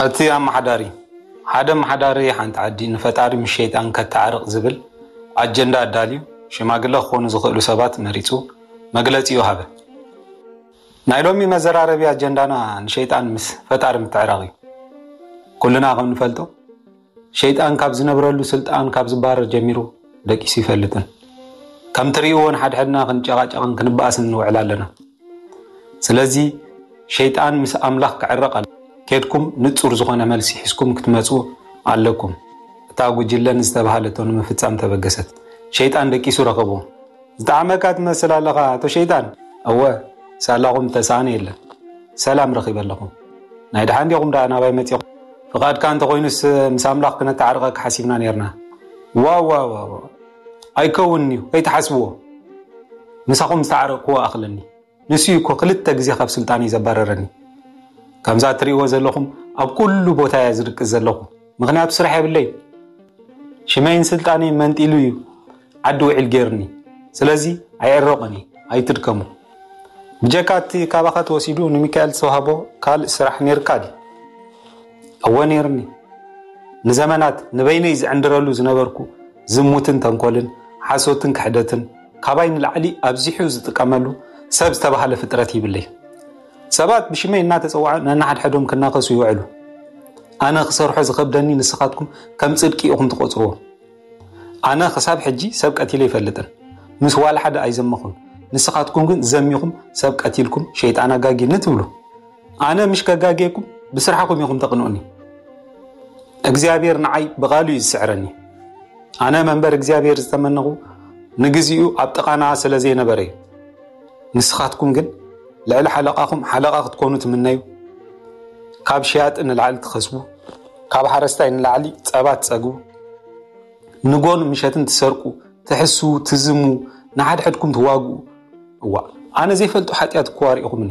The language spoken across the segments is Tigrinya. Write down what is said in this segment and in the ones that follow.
እቲ ኣመሓዳሪ ሓደ ኣመሓዳሪ ሓንቲ ዓዲ ንፈጣሪ ምስ ሸይጣን ከታዓርቅ ዝብል ኣጀንዳ ኣዳልዩ ሽማግለ ክኾኑ ዝኽእሉ ሰባት መሪፁ መግለፂኡ ሃበ። ናይ ሎሚ መዘራረቢ ኣጀንዳና ንሸይጣን ምስ ፈጣሪ ምትዕራቕ እዩ። ኩልና ከም ንፈልጦ ሸይጣን ካብ ዝነብረሉ ስልጣን ካብ ዝባረር ጀሚሩ ደቂሱ ይፈልጥን ከም ትርእይዎ ንሓድሕድና ክንጨቓጨቕን ክንበኣስን ንውዕል ኣለና ስለዚ ሸይጣን ምስ ኣምላኽ ክዕረቕ ኣሎ ኬድኩም ንጹር ዝኾነ መልሲ ሒዝኩም ክትመጹ ኣለኩም እታ ጉጅለ ንዝተባሃለቶ ንምፍጻም ተበገሰት ሸይጣን ደቂሱ ረኸቦ ዝጠዓመካ ትመስል ኣለኻ ኣቶ ሸይጣን። እወ ሳላኹም ዝተሳኣነ የለን ሰላም ረኺበ ኣለኹ። ናይ ደሓን ዲኹም ደኣ ናባይ መጺኹም? ፍቓድካ እንተኾይኑስ ምስ ኣምላኽ ክነተዓርቐካ ሓሲብና ኔርና። ዋውውውው ኣይከውንን'ዩ ከይትሓስብዎ ምሳኹም ዝተዓረቕክዎ እኣኽለኒ። ንሱ እዩ እኮ ክልተ ግዜ ካብ ስልጣነይ ዘባረረኒ። ከምዛ እትሪእዎ ዘለኹም ኣብ ኩሉ ቦታ እየ ዝድቅስ ዘለኹ ምኽንያቱ ስራሕ የብለይን። ሽመይን ስልጣነይን መንጢሉ እዩ ዓዲ ውዒል ገይሩኒ። ስለዚ ኣይዕረቑን እየ ኣይትድከሙ። ብጀካ እቲ ካባኻ ተወሲዱ ንሚካኤል ዝተዋህቦ ካልእ ስራሕ ነይርካ ድዩ? እወ ነይርኒ። ንዘመናት ንበይነይ ዝዕንድረሉ ዝነበርኩ ዝሙትን ተንኮልን፣ ሓሶትን ክሕደትን፣ ካባይ ንላዕሊ ኣብዚሑ ዝጥቀመሉ ሰብ ዝተባህለ ፍጥረት ይብለይ። ሰባት ብሽመይ እናተጸዋዑ ነንሓድሕዶም ክናኸሱ ይውዕሉ። ኣነ ክሰርሖ ዝኸብደኒ ንስኻትኩም ከም ጽድቂ ኢኹም ትቆጽርዎ። ኣነ ክሳብ ሕጂ ሰብ ቀቲለ ይፈልጥን ምስ ዋላ ሓደ ኣይዘመኹን ንስኻትኩም ግን ዘሚኹም ሰብ ቀቲልኩም ሸይጣን ኣጋጊ ንትብሉ ኣነ ምሽ ከጋጌኩም ብስራሕኹም ኢኹም ተቕንኡኒ። እግዚኣብሔር ንዓይ ብቓሉ እዩ ዝስዕረኒ። ኣነ መንበር እግዚኣብሔር ዝተመነኹ ንግዚኡ ኣብ ጥቓና ስለ ዘይነበረ እዩ። ንስኻትኩም ግን ልዕሊ ሓለቓኹም ሓለቓ ክትኮኑ ትምነዩ ካብ ሸያጢ ንላዕሊ ትኸስቡ ካብ ሓረስታይ ንላዕሊ ፀባ ትፀግቡ ንጎን ምሸትን ትሰርቁ ትሕሱ ትዝሙ ንሓድሕድኩም ትዋግኡ እዋ ኣነ ዘይፈልጡ ሓጢኣት እኮ ኣሪእኹምኒ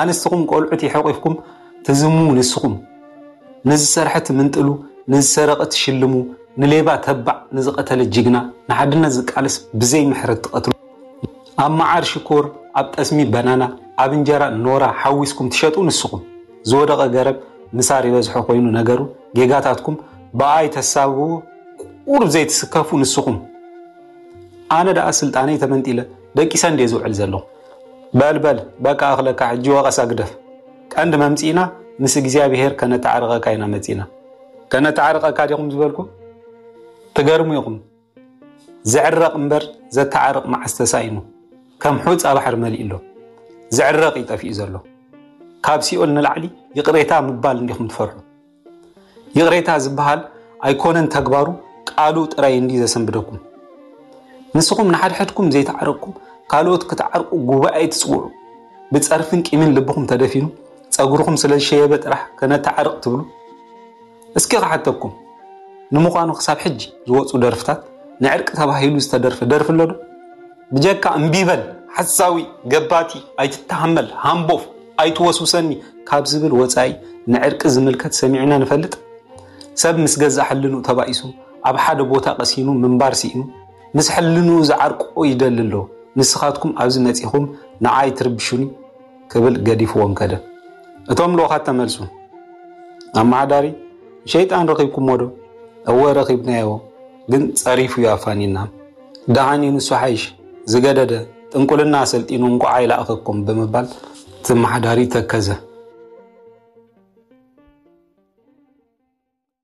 ኣንስትኹም ቆልዑ ተሒቚፍኩም ትዝምዉ ንስኹም ንዝሰርሐ ትምንጥሉ ንዝሰረቐ ትሽልሙ ንሌባ ተባዕ ንዝቐተለ ጅግና ንሓድነት ዝቃለስ ብዘይ ምሕረት ትቐትሉ ኣብ መዓር ሽኮር ኣብ ጠስሚ በናና ኣብ እንጀራ ኖራ ሓዊስኩም ትሸጡ ንስኹም ዝወደቐ ገረብ ምሳር ይበዝሖ ኮይኑ ነገሩ ጌጋታትኩም ብኣይ ተሳብዎ ቁሩብ ዘይትስከፉ ንስኹም ኣነ ደኣ ስልጣነይ ተመንጢለ ደቂሰ እንድየ ዝውዕል ዘለኹ። በል በል በቃ እኽለካ ሕጂ ወቐሳ ግደፍ። ቀንዲ መምጺእና ምስ እግዚኣብሄር ከነተዓርቐካ ኢና መጺእና። ከነተዓርቐካ ዲኹም ዝበልኩ? ትገርሙ ኢኹም። ዝዕረቕ እምበር ዘተዓርቕ መዓስ ተሳኢኑ። ከም ሑጻ ባሕሪ መሊኡ ኣሎ። ዝዕረቕ እዩ ጠፊኡ ዘሎ። ካብ ሲኦል ንላዕሊ ይቕሬታ ምባል እንዲኹም ትፈርሑ። ይቕሬታ ዝበሃል ኣይኮነን ተግባሩ ቃሉ ጥራይ እንዲ ዘሰንብደኩም ንስኹም ንሓድሕድኩም ዘይተዓረቅኩም ካልኦት ክትዓርቁ ጉባኤ ትፅውዑ ብፀርፍን ቂምን ልብኹም ተደፊኑ ፀጉርኹም ስለ ዝሸየበ ጥራሕ ከነተዓርቅ ትብሉ እስኪ ክሓተኩም ንምዃኑ ክሳብ ሕጂ ዝወፁ ደርፍታት ንዕርቂ ተባሂሉ ዝተደርፈ ደርፊ ኣሎ ዶ ብጀካ እምቢበል ሓሳዊ ገባቲ ኣይትተሃመል ሃምቦፍ ኣይትወስውሰኒ ካብ ዝብል ወጻኢ ንዕርቂ ዝምልከት ሰሚዕና ንፈልጥ? ሰብ ምስ ገዛእ ሕልንኡ ተባኢሱ ኣብ ሓደ ቦታ ቀሲኑ ምንባር ስኢኑ ምስ ሕልንኡ ዝዓርቆ ይደሊ ኣሎ፣ ንስኻትኩም ኣብዚ መጺኹም ንዓይ ትርብሹኒ ክብል ገዲፍዎም ከደ። እቶም ልኡኻት ተመልሱ። ኣመሓዳሪ ንሸይጣን ረኺብኩሞዶ? እወ ረኺብናዮ፣ ግን ጸሪፉ'ዩ ኣፋንዩና። ደሓን እዩ ንሱ ሓይሽ ዝገደደ ጥንቁልና ኣሰልጢኑ እንቋዕ ኣይለኣኸኩም ብምባል ዘመሓዳሪ ተከዘ።